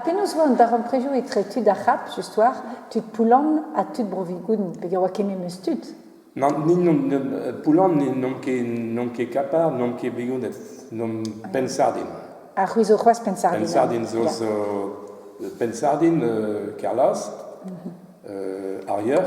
Penaos 'oa an darempredoù etre tud ar C'hap, just war, tud Poulan ha tud Bro-Vigoun, pegen 'oa kement eus tud? Nann, Poulan n'omp ket Kapar, n'omp ket Vigouned, n'omp Pennsardin. Ha c'hwi zo c'hoazh Pennsardin? Pennsardin zo Pennsardin, Kerlaz, Arieur,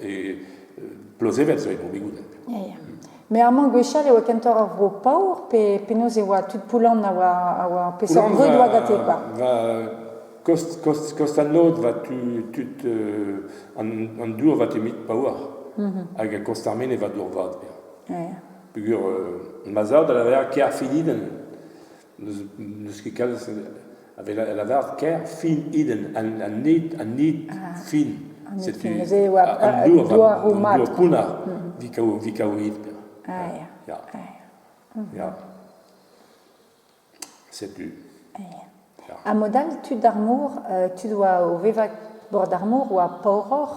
E Plozevel zo e Bro-Bigouden. Me amañ gwechall e oa kentoc'h ur vro paour, pe penaos e oa tud Poulan a oa, a oa peseurt brud oa gante quoi va, kost, kost, kost an lod va tu, tud euh, an, an dour va temit paour mhm. hag a kost ar mene va dour vad. Pegur euh, ma zao da lavar ker fididen n'eus ket kalz a lavaret ker fin iden an nid an nid fin setu an douaroù mat pounner vikaouit ah ya ya setu ha mod all tud ar mor tud oa o vevañ bord ar mor oa paouroc'h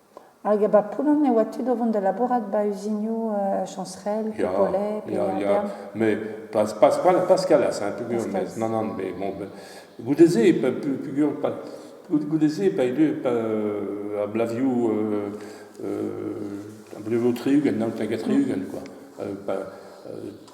Hag ba Poulogne e oa tud o vont da labourat ba uzinioù Chañserel, Pepollet, Ploerberm. Met pas Kallas hein, peogwir, met nann nann, mais bon, goude-se peogwir goude-se pa e deu ar blavioù ar blavioù tri-ugent, naon hag a tri-ugent quoi.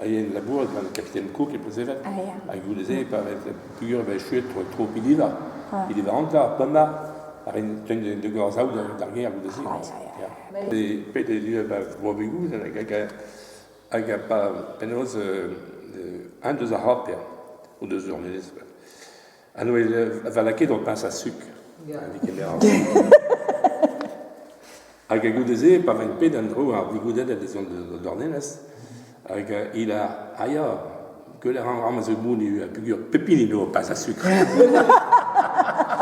a yen labourat gant Capitaine Cook e Plezevek, hag goude-se, pa vez pugur e vez chuet tro, tro Piliva. Piliva Antla, Poma, a rin un de gorzaoù d'ar gêr goude-se. Pet e du ba Boabigou, hag a pa penaos un deus ar c'horter, o deus ur menez. Ha nou e va lakaet o pas a sukr. Hag a goude-se, pa vain pet an dro ar digoudet en dezon d'o dornelez, hag il a aia, que l'air en a zo mouni, pugur, pepin ino pas a sukr.